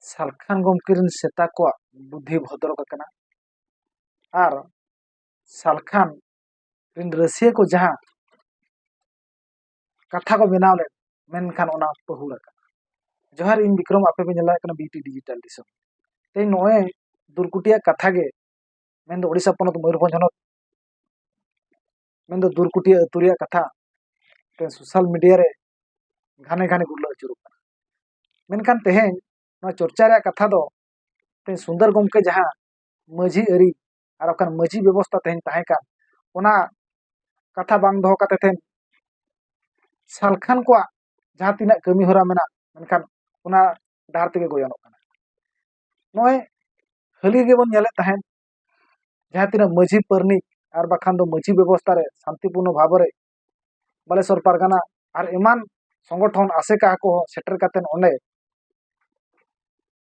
ᱥᱟᱞᱠᱷᱟᱱ ᱜᱚᱢᱠᱮ ᱨᱮᱱ ᱥᱮᱛᱟ ᱠᱚᱣᱟᱜ ᱵᱩᱫᱷᱤ ᱵᱷᱚᱫᱨᱚᱜ ᱟᱠᱟᱱᱟ ᱟᱨ ᱥᱟᱞᱠᱷᱟᱱ ᱨᱮᱱ ᱨᱟᱹᱥᱭᱟᱹ ᱠᱚ ᱡᱟᱦᱟᱸ ᱠᱟᱛᱷᱟ ᱠᱚ ᱵᱮᱱᱟᱣ ᱞᱮᱫ ᱢᱮᱱᱠᱷᱟᱱ ᱚᱱᱟ ᱯᱟᱹᱦᱩᱲ ᱟᱠᱟᱱᱟ ᱡᱚᱦᱟᱨ ᱤᱧ ᱵᱤᱠᱨᱚᱢ ᱟᱯᱮ ᱯᱮ ᱧᱮᱞ ᱫᱟᱲᱮᱭᱟᱜ ᱠᱟᱱᱟ ᱵᱤᱴᱤ ᱰᱤᱡᱤᱴᱟᱞ ᱫᱤᱥᱚᱢ ᱛᱮᱦᱮᱧ ᱱᱚᱜᱼᱚᱭ ᱫᱩᱨᱠᱩᱴᱤᱭᱟᱜ ᱠᱟᱛᱷᱟ ᱜᱮ ᱢᱮᱱᱫᱚ ᱳᱰᱤᱥᱟ ᱯᱚᱱᱚᱛ ᱢᱚᱭᱩᱨᱵᱷᱚᱸᱡᱽ ᱦᱚᱱᱚᱛ ᱢᱮᱱ ᱫᱚ ᱫᱩᱨᱠᱩᱴᱤᱭᱟᱹ ᱟᱹᱛᱩ ᱨᱮᱭᱟᱜ ᱠᱟᱛᱷᱟ ᱛᱮ ᱥᱳᱥᱟᱞ ᱢᱤᱰᱤᱭᱟ ᱨᱮ ᱜᱷᱟᱱᱮ ᱜᱷᱟᱱᱮ ᱜᱩᱨᱞᱟᱹ ᱟᱹᱪᱩᱨᱚᱜ ᱠᱟᱱᱟ ᱢᱮᱱᱠᱷᱟᱱ ᱛᱮᱦᱮᱧ ᱱᱚᱣᱟ ᱪᱚᱨᱪᱟ ᱨᱮᱭᱟᱜ ᱠᱟᱛᱷᱟ ᱫᱚ ᱛᱮᱦᱮᱧ ᱥᱩᱱᱫᱚᱨ ᱜᱚᱢᱠᱮ ᱡᱟᱦᱟᱸ ᱢᱟᱹᱡᱷᱤ ᱟᱹᱨᱤ ᱟᱨ ᱵᱟᱠᱷᱟᱱ ᱢᱟᱹᱡᱷᱤ ᱵᱮᱵᱚᱥᱛᱷᱟ ᱛᱮᱦᱮᱧ ᱛᱟᱦᱮᱸ ᱠᱟᱱ ᱚᱱᱟ ᱠᱟᱛᱷᱟ ᱵᱟᱝ ᱫᱚᱦᱚ ᱠᱟᱛᱮ ᱛᱮᱦᱮᱧ ᱥᱟᱞᱠᱷᱟᱱ ᱠᱚᱣᱟᱜ ᱡᱟᱦᱟᱸ ᱛᱤᱱᱟᱹᱜ ᱠᱟᱹᱢᱤ ᱦᱚᱨᱟ ᱢᱮᱱᱟᱜ ᱢᱮᱱᱠᱷᱟᱱ ᱚᱱᱟ ᱰᱟᱦᱟᱨ ᱛᱮᱜᱮ ᱜᱚᱭᱚᱱᱚᱜ ᱠᱟᱱᱟ ᱱᱚᱜᱼᱚᱭ ᱦᱟᱹᱞᱤ ᱜᱮᱵᱚᱱ ᱧᱮᱞᱮᱫ ᱛᱟᱦᱮᱸᱫ ᱡᱟᱦᱟᱸ ᱛᱤᱱᱟᱹᱜ ᱢᱟᱹᱡᱷᱤ ᱯᱟᱨᱟᱱᱤᱠ ᱟᱨ ᱵᱟᱠᱷᱟᱱ ᱫᱚ ᱢᱟᱹᱡᱷᱤ ᱵᱮᱵᱚᱥᱛᱟ ᱨᱮ ᱥᱟᱱᱛᱤ ᱯᱩᱨᱱᱚ ᱵᱷᱟᱵᱽ ᱨᱮ ᱵᱟᱞᱮᱥᱚᱨ ᱯᱟᱨᱜᱟᱱᱟ ᱟᱨ ᱮᱢᱟᱱ ᱥᱚᱝᱜᱚᱴᱷᱚᱱ ᱟᱥᱮᱠᱟ ᱠᱚ ᱥᱮᱴᱮᱨ ᱠᱟᱛᱮ ᱚᱸᱰᱮ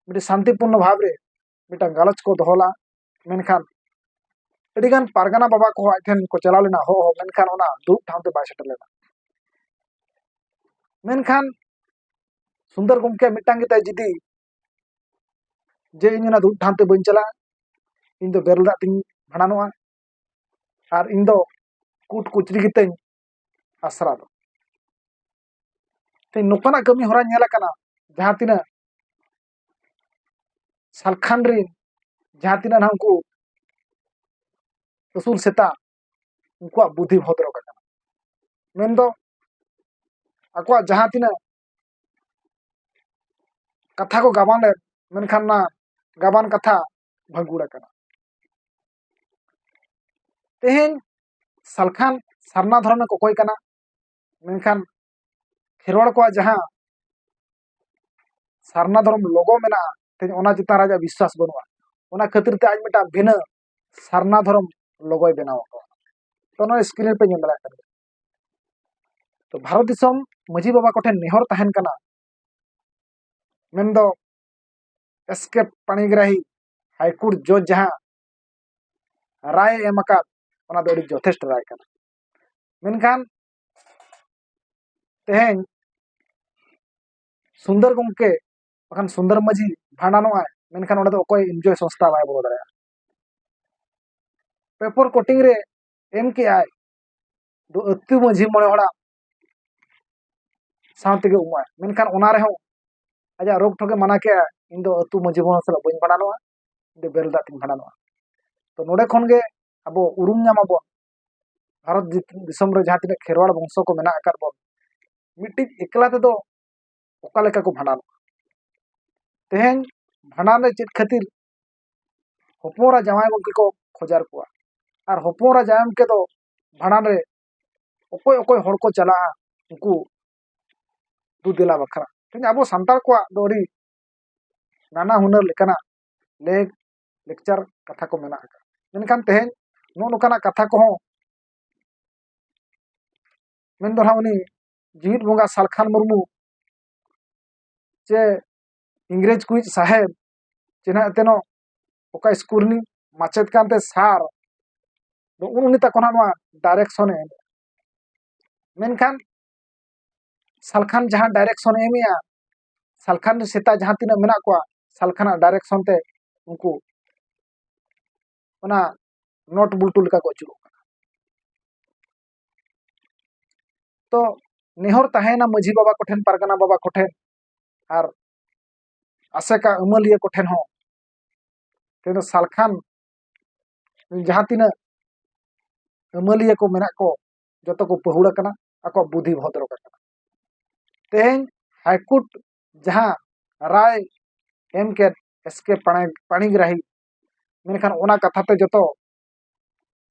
ᱢᱤᱫᱴᱤᱡ ᱥᱟᱱᱛᱤ ᱯᱩᱨᱱᱚ ᱵᱷᱟᱵᱽ ᱨᱮ ᱢᱤᱫᱴᱟᱝ ᱜᱟᱞᱚᱪ ᱠᱚ ᱫᱚᱦᱚ ᱞᱟᱜᱼᱟ ᱢᱮᱱᱠᱷᱟᱱ ᱟᱹᱰᱤ ᱜᱟᱱ ᱯᱟᱨᱜᱟᱱᱟ ᱵᱟᱵᱟ ᱠᱚ ᱟᱡ ᱴᱷᱮᱱ ᱠᱚ ᱪᱟᱞᱟᱣ ᱞᱮᱱᱟ ᱦᱚᱦᱚ ᱢᱮᱱᱠᱷᱟᱱ ᱚᱱᱟ ᱫᱩᱲᱩᱵ ᱴᱷᱟᱶ ᱛᱮ ᱵᱟᱭ ᱥᱮᱴᱮᱨ ᱞᱮᱱᱟ ᱢᱮᱱᱠᱷᱟᱱ ᱥᱩᱱᱫᱚᱨ ᱜᱚᱢᱠᱮ ᱢᱤᱫᱴᱟᱝ ᱜᱮᱛᱟᱭ ᱡᱤᱫᱤ ᱡᱮ ᱤᱧ ᱚᱱᱟ ᱫᱩᱲᱩᱵ ᱴᱷᱟᱶ ᱛᱮ ᱵᱟᱹᱧ ᱪᱟᱞᱟᱜᱼᱟ ᱤᱧ ᱫᱚ ᱵᱮᱨᱮᱞ ᱫᱟᱜ ᱛᱤᱧ ᱵᱷᱟᱸᱰᱟᱱᱚᱜᱼᱟ ᱟᱨ ᱤᱧ ᱫᱚ ᱠᱩᱴ ᱠᱩᱪᱨᱤ ᱜᱮᱛᱤᱧ ᱟᱥᱨᱟ ᱫᱚ ᱛᱮᱦᱮᱧ ᱱᱚᱝᱠᱟᱱᱟᱜ ᱠᱟᱹᱢᱤ ᱦᱚᱨᱟ ᱧᱮᱞ ᱟᱠᱟᱱᱟ ᱡᱟᱦᱟᱸ ᱛᱤᱱᱟᱹᱜ ᱥᱟᱞᱠᱷᱟᱱ ᱨᱤᱱ ᱡᱟᱦᱟᱸ ᱛᱤᱱᱟᱹᱜ ᱱᱟᱦᱟᱜ ᱩᱱᱠᱩ ᱟᱹᱥᱩᱞ ᱥᱮᱛᱟ ᱩᱱᱠᱩᱣᱟᱜ ᱵᱩᱫᱷᱤ ᱵᱷᱚᱫᱨᱚ ᱠᱟᱱᱟ ᱢᱮᱱᱫᱚ ᱟᱠᱚᱣᱟᱜ ᱡᱟᱦᱟᱸ ᱛᱤᱱᱟᱹᱜ ᱠᱟᱛᱷᱟ ᱠᱚ ᱜᱟᱵᱟᱱ ᱞᱮᱫ ᱢᱮᱱᱠᱷᱟᱱ ᱚᱱᱟ ᱜᱟᱵᱟᱱ ᱠᱟᱛᱷᱟ ᱵᱷᱟᱹᱜᱩᱲ ᱟᱠᱟᱱᱟ ᱛᱮᱦᱮᱧ ᱥᱟᱞᱠᱷᱟᱱ ᱥᱟᱨᱱᱟ ᱫᱷᱚᱨᱚᱢᱮ ᱠᱚᱠᱚᱭ ᱠᱟᱱᱟ ᱢᱮᱱᱠᱷᱟᱱ ᱠᱷᱮᱨᱣᱟᱲ ᱠᱚᱣᱟᱜ ᱡᱟᱦᱟᱸ ᱥᱟᱨᱱᱟ ᱫᱷᱚᱨᱚᱢ ᱞᱚᱜᱚ ᱢᱮᱱᱟᱜᱼᱟ ᱛᱮᱦᱮᱧ ᱚᱱᱟ ᱪᱮᱛᱟᱱ ᱨᱮ ᱟᱡᱟᱜ ᱵᱤᱥᱣᱟᱥ ᱵᱟᱹᱱᱩᱜᱼᱟ ᱚᱱᱟ ᱠᱷᱟᱹᱛᱤᱨ ᱛᱮ ᱟᱡ ᱢᱤᱫᱴᱟᱝ ᱵᱷᱤᱱᱟᱹ ᱥᱟᱨᱱᱟ ᱫᱷᱚᱨᱚᱢ ᱞᱚᱜᱚᱭ ᱵᱮᱱᱟᱣ ᱟᱠᱟᱫᱟ ᱛᱚ ᱱᱚᱣᱟ ᱥᱠᱨᱤᱱ ᱯᱮ ᱧᱮᱞ ᱫᱟᱲᱮᱭᱟᱜ ᱠᱟᱱᱟ ᱛᱚ ᱵᱷᱟᱨᱚᱛ ᱫᱤᱥᱚᱢ ᱢᱟᱹᱡᱷᱤ ᱵᱟᱵᱟ ᱠᱚᱴᱷᱮᱱ ᱱᱮᱦᱚᱨ ᱛᱟᱦᱮᱱ ᱠᱟᱱᱟ ᱢᱮᱱᱫᱚ ᱮᱥ ᱠᱮ ᱯᱟᱬᱤᱜᱨᱟᱦᱤ ᱦᱟᱭᱠᱳᱨᱴ ᱡᱚᱡᱽ ᱡᱟᱦᱟᱸ ᱨᱟᱭ ᱮᱢ ᱟᱠᱟᱫ ᱚᱱᱟ ᱫᱚ ᱟᱹᱰᱤ ᱡᱚᱛᱷᱮᱥᱴᱚ ᱨᱟᱭ ᱠᱟᱱᱟ ᱢᱮᱱᱠᱷᱟᱱ ᱛᱮᱦᱮᱧ ᱥᱩᱱᱫᱚᱨ ᱜᱚᱢᱠᱮ ᱵᱟᱠᱷᱟᱱ ᱥᱩᱱᱫᱚᱨ ᱢᱟᱹᱡᱷᱤ ᱵᱷᱟᱸᱰᱟᱱᱚᱜᱼᱟᱭ ᱢᱮᱱᱠᱷᱟᱱ ᱚᱸᱰᱮ ᱫᱚ ᱚᱠᱚᱭ ᱤᱱᱡᱚᱭ ᱥᱚᱝᱥᱛᱷᱟ ᱵᱟᱭ ᱵᱚᱞᱚ ᱫᱟᱲᱮᱭᱟᱜᱼᱟ ᱯᱮᱯᱚᱨ ᱠᱳᱴᱤᱝ ᱨᱮ ᱮᱢ ᱠᱮᱜᱼᱟᱭ ᱫᱚ ᱟᱹᱛᱩ ᱢᱟᱹᱡᱷᱤ ᱢᱚᱬᱮ ᱦᱚᱲᱟᱜ ᱥᱟᱶ ᱛᱮᱜᱮ ᱩᱢᱩᱜᱼᱟ ᱢᱮᱱᱠᱷᱟᱱ ᱚᱱᱟ ᱨᱮᱦᱚᱸ ᱟᱡᱟᱜ ᱨᱳᱜᱽ ᱴᱷᱚᱜᱮ ᱢᱟᱱᱟ ᱠᱮᱜᱼᱟ ᱤᱧ ᱫᱚ ᱟᱹᱛᱩ ᱢᱟᱹᱡᱷᱤ ᱢᱚᱬᱮ ᱥᱟᱞᱟᱜ ᱵᱟᱹᱧ ᱵᱷᱟᱸᱰᱟᱱᱚᱜᱼᱟ ᱤᱧ ᱫᱚ ᱵᱮᱨᱮᱞ ᱫᱟᱜ ᱛᱮᱧ ᱵᱷᱟᱸᱰᱟᱱᱚᱜᱼᱟ ᱛᱚ ᱱᱚᱰᱮ ᱠᱷᱚᱱ ᱜᱮ ᱟᱵᱚ ᱩᱨᱩᱢ ᱧᱟᱢ ᱟᱵᱚᱱ ᱵᱷᱟᱨᱚᱛ ᱫᱤᱥᱚᱢ ᱨᱮ ᱡᱟᱦᱟᱸ ᱛᱤᱱᱟᱹᱜ ᱠᱷᱮᱨᱣᱟᱲ ᱵᱚᱝᱥᱚ ᱠᱚ ᱢᱮᱱᱟᱜ ᱟᱠᱟᱫ ᱵᱚᱱ ᱢᱤᱫᱴᱤᱡ ᱮᱠᱞᱟ ᱛᱮᱫᱚ ᱚᱠᱟ ᱞᱮᱠᱟ ᱠᱚ ᱵᱷᱟᱸᱰᱟᱱᱚᱜᱼᱟ ᱛᱮᱦᱮᱧ ᱵᱷᱟᱸᱰᱟᱱ ᱨᱮ ᱪᱮᱫ ᱠᱷᱟᱹᱛᱤᱨ ᱦᱚᱯᱚᱱ ᱮᱨᱟ ᱡᱟᱶᱟᱭ ᱜᱚᱝᱠᱮ ᱠᱚ ᱠᱷᱚᱡᱟᱨ ᱠᱚᱣᱟ ᱟᱨ ᱦᱚᱯᱚᱱ ᱮᱨᱟ ᱡᱟᱶᱟᱭ ᱜᱚᱝᱠᱮ ᱫᱚ ᱵᱷᱟᱸᱰᱟᱱ ᱨᱮ ᱚᱠᱚᱭ ᱚᱠᱚᱭ ᱦᱚᱲ ᱠᱚ ᱪᱟᱞᱟᱜᱼᱟ ᱩᱱᱠᱩ ᱫᱩ ᱫᱮᱞᱟ ᱵᱟᱠᱷᱨᱟ ᱛᱮᱦᱮᱧ ᱟᱵᱚ ᱥᱟᱱᱛᱟᱲ ᱠᱚᱣᱟᱜ ᱫᱚ ᱟᱹᱰᱤ ᱱᱟᱱᱟ ᱦᱩᱱᱟᱹᱨ ᱞᱮᱠᱟᱱᱟᱜ ᱞᱮᱠ ᱞᱮᱠᱪᱟᱨ ᱠᱟᱛᱷᱟ ᱠᱚ ᱢᱮᱱᱟᱜ ᱟᱠᱟᱫᱟ ᱢᱮᱱᱠᱷᱟᱱ ᱛᱮᱦᱮᱧ ᱱᱚᱜᱼᱚ ᱱᱚᱝᱠᱟᱱᱟᱜ ᱠᱟᱛᱷᱟ ᱠᱚᱦᱚᱸ ᱢᱮᱱᱫᱚ ᱱᱟᱦᱟᱜ ᱩᱱᱤ ᱡᱤᱣᱤᱫ ᱵᱚᱸᱜᱟ ᱥᱟᱞᱠᱷᱟᱱ ᱢᱩᱨᱢᱩ ᱪᱮ ᱤᱝᱨᱮᱡᱽ ᱠᱚᱭᱤᱡ ᱥᱟᱦᱮᱵᱽ ᱪᱮᱱᱟᱜ ᱮᱛᱮᱱᱚᱜ ᱚᱠᱟ ᱤᱥᱠᱩᱞ ᱨᱤᱱᱤᱡ ᱢᱟᱪᱮᱫ ᱠᱟᱱᱛᱮ ᱥᱟᱨ ᱫᱚ ᱩᱱᱤ ᱛᱟᱠᱚ ᱱᱟᱜ ᱱᱚᱣᱟ ᱰᱟᱭᱨᱮᱠᱥᱚᱱᱮ ᱮᱢᱮᱜᱼᱟ ᱢᱮᱱᱠᱷᱟᱱ ᱥᱟᱞᱠᱷᱟᱱ ᱡᱟᱦᱟᱸ ᱰᱟᱭᱨᱮᱠᱥᱚᱱᱮ ᱮᱢᱮᱜᱼᱟ ᱥᱟᱞᱠᱷᱟᱱ ᱨᱮ ᱥᱮᱛᱟ ᱡᱟᱦᱟᱸ ᱛᱤᱱᱟᱹᱜ ᱢᱮᱱᱟᱜ ᱠᱚᱣᱟ ᱥᱟᱞᱠᱷᱟᱱᱟᱜ ᱰᱟᱭᱨᱮᱠᱥᱚᱱ ᱛᱮ ᱩᱱᱠᱩ ᱚᱱᱟ ᱱᱚᱴ ᱵᱩᱞᱴᱩ ᱞᱮᱠᱟ ᱠᱚ ᱟᱹᱪᱩᱨᱚᱜ ᱠᱟᱱᱟ ᱛᱚ ᱱᱮᱦᱚᱨ ᱛᱟᱦᱮᱸᱭᱮᱱᱟ ᱢᱟᱹᱡᱷᱤ ᱵᱟᱵᱟ ᱠᱚᱴᱷᱮᱱ ᱯᱟᱨᱜᱟᱱᱟ ᱵᱟᱵᱟ ᱠᱚᱴᱷᱮᱱ ᱟᱨ ᱟᱥᱮᱠᱟ ᱟᱹᱢᱟᱹᱞᱤᱭᱟᱹ ᱠᱚᱴᱷᱮᱱ ᱦᱚᱸ ᱛᱮᱫᱚ ᱥᱟᱞᱠᱷᱟᱱ ᱡᱟᱦᱟᱸ ᱛᱤᱱᱟᱹᱜ ᱟᱹᱢᱟᱹᱞᱤᱭᱟᱹ ᱠᱚ ᱢᱮᱱᱟᱜ ᱠᱚ ᱡᱚᱛᱚ ᱠᱚ ᱯᱟᱹᱦᱩᱲ ᱟᱠᱟᱱᱟ ᱟᱠᱚᱣᱟᱜ ᱵᱩᱫᱷᱤ ᱵᱷᱚᱫᱨᱚ ᱟᱠᱟᱱᱟ ᱛᱮᱦᱮᱧ ᱦᱟᱭᱠᱳᱨᱴ ᱡᱟᱦᱟᱸ ᱨᱟᱭ ᱮᱢ ᱠᱮᱫ ᱮᱥ ᱠᱮ ᱯᱟᱬᱤᱜᱨᱟᱦᱤ ᱢᱮᱱᱠᱷᱟᱱ ᱚᱱᱟ ᱠᱟᱛᱷᱟ ᱛᱮ ᱡᱚᱛᱚ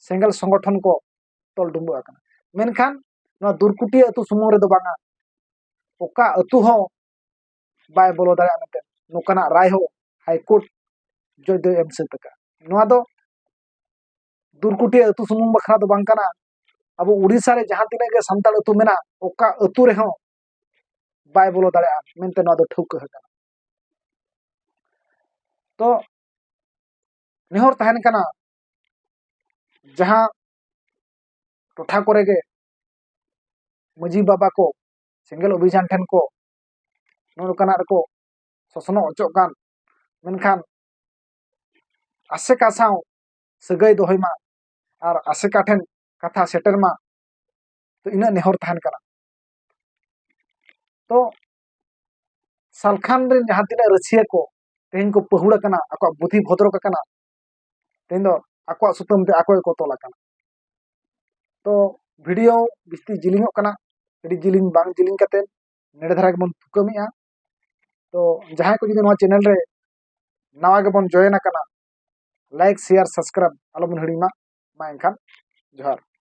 ᱥᱮᱸᱜᱮᱞ ᱥᱚᱝᱜᱚᱴᱷᱚᱱ ᱠᱚ ᱛᱚᱞ ᱰᱩᱢᱵᱩᱜ ᱟᱠᱟᱱᱟ ᱢᱮᱱᱠᱷᱟᱱ ᱱᱚᱣᱟ ᱫᱩᱨᱠᱩᱴᱤᱭᱟᱹ ᱟᱹᱛᱩ ᱥᱩᱢᱩᱝ ᱨᱮᱫᱚ ᱵᱟᱝᱟ ᱚᱠᱟ ᱟᱹᱛᱩ ᱦᱚᱸ ᱵᱟᱭ ᱵᱚᱞᱚ ᱫᱟᱲᱮᱭᱟᱜᱼᱟ ᱢᱮᱱᱛᱮ ᱱᱚᱝᱠᱟᱱᱟᱜ ᱨᱟᱭ ᱦᱚᱸ ᱦᱟᱭᱠᱳᱨᱴ ᱡᱚᱡᱽ ᱫᱚᱭ ᱮᱢ ᱥᱟᱹᱛ ᱟᱠᱟᱫᱼᱟ ᱱᱚᱣᱟ ᱫᱚ ᱫᱩᱨᱠᱩᱴᱤᱭᱟᱹ ᱟᱹᱛᱩ ᱥᱩᱢᱩᱝ ᱵᱟᱠᱷᱨᱟ ᱫᱚ ᱵᱟᱝ ᱠᱟᱱᱟ ᱟᱵᱚ ᱩᱲᱤᱥᱥᱟ ᱨᱮ ᱡᱟᱦᱟᱸ ᱛᱤᱱᱟᱹᱜ ᱜᱮ ᱥᱟᱱᱛᱟᱲ ᱟᱹᱛᱩ ᱢᱮᱱᱟᱜ ᱚᱠᱟ ᱟᱹᱛᱩ ᱨᱮᱦᱚᱸ ᱵᱟᱭ ᱵᱚᱞᱚ ᱫᱟᱲᱮᱭᱟᱜᱼᱟ ᱢᱮᱱᱛᱮ ᱱᱚᱣᱟ ᱫᱚ ᱴᱷᱟᱹᱣᱠᱟᱹ ᱟᱠᱟᱱᱟ ᱛᱚ ᱱᱮᱦᱚᱨ ᱛᱟᱦᱮᱱ ᱠᱟᱱᱟ ᱡᱟᱦᱟᱸ ᱴᱚᱴᱷᱟ ᱠᱚᱨᱮ ᱜᱮ ᱢᱟᱹᱡᱷᱤ ᱵᱟᱵᱟ ᱠᱚ ᱥᱮᱸᱜᱮᱞ ᱚᱵᱷᱤᱡᱟᱱ ᱴᱷᱮᱱ ᱠᱚ ᱱᱚᱜᱼᱚ ᱱᱚᱝᱠᱟᱱᱟᱜ ᱨᱮᱠᱚ ᱥᱚᱥᱱᱚᱜ ᱦᱚᱪᱚᱜ ᱠᱟᱱ ᱢᱮᱱᱠᱷᱟᱱ ᱟᱥᱮᱠᱟ ᱥᱟᱶ ᱥᱟᱹᱜᱟᱹᱭ ᱫᱚᱦᱚᱭ ᱢᱟ ᱟᱨ ᱟᱥᱮᱠᱟ ᱴᱷᱮᱱ ᱠᱟᱛᱷᱟ ᱥᱮᱴᱮᱨ ᱢᱟ ᱛᱚ ᱤᱱᱟᱹᱜ ᱱᱮᱦᱚᱨ ᱛᱟᱦᱮᱱ ᱠᱟᱱᱟ ᱛᱚ ᱥᱟᱞᱠᱷᱟᱱ ᱨᱮᱱ ᱡᱟᱦᱟᱸ ᱛᱤᱱᱟᱹᱜ ᱨᱟᱹᱥᱤᱭᱟᱹ ᱠᱚ ᱛᱮᱦᱮᱧ ᱠᱚ ᱯᱟᱹᱦᱩᱲ ᱟᱠᱟᱱᱟ ᱟᱠᱚᱣᱟᱜ ᱵᱩᱫᱷᱤ ᱵᱷᱚᱫᱨᱚᱠ ᱟᱠᱟᱱᱟ ᱛᱮᱦᱮᱧ ᱫᱚ ᱟᱠᱚᱣᱟᱜ ᱥᱩᱛᱟᱹᱢ ᱛᱮ ᱟᱠᱚ ᱜᱮᱠᱚ ᱛᱚᱞ ᱟᱠᱟᱱᱟ ᱛᱚ ᱵᱷᱤᱰᱤᱭᱳ ᱵᱤᱥᱛᱤ ᱡᱤᱞᱤᱧᱚᱜ ᱠᱟᱱᱟ ᱟᱹᱰᱤ ᱡᱤᱞᱤᱧ ᱵᱟᱝ ᱡᱤᱞᱤᱧ ᱠᱟᱛᱮ ᱱᱮᱰᱮ ᱫᱷᱟᱨᱟ ᱜᱮᱵᱚᱱ ᱛᱷᱩᱠᱟᱹᱢᱮᱜᱼᱟ ᱛᱚ ᱡᱟᱦᱟᱸᱭ ᱠᱚ ᱡᱩᱫᱤ ᱱᱚᱣᱟ ᱪᱮᱱᱮᱞ ᱨᱮ ᱱᱟᱣᱟ ᱜᱮᱵᱚᱱ ᱡᱚᱭᱮᱱ ᱟᱠᱟᱱᱟ ᱞᱟᱭᱤᱠ ᱥᱮᱭᱟᱨ ᱥᱟᱵᱥᱠᱨᱟᱭᱤᱵ ᱟᱞᱚᱵᱚᱱ ᱦᱤᱲᱤᱧ ᱢᱟ ᱢᱟ ᱮᱱᱠᱷᱟᱱ ᱡᱚᱦᱟᱨ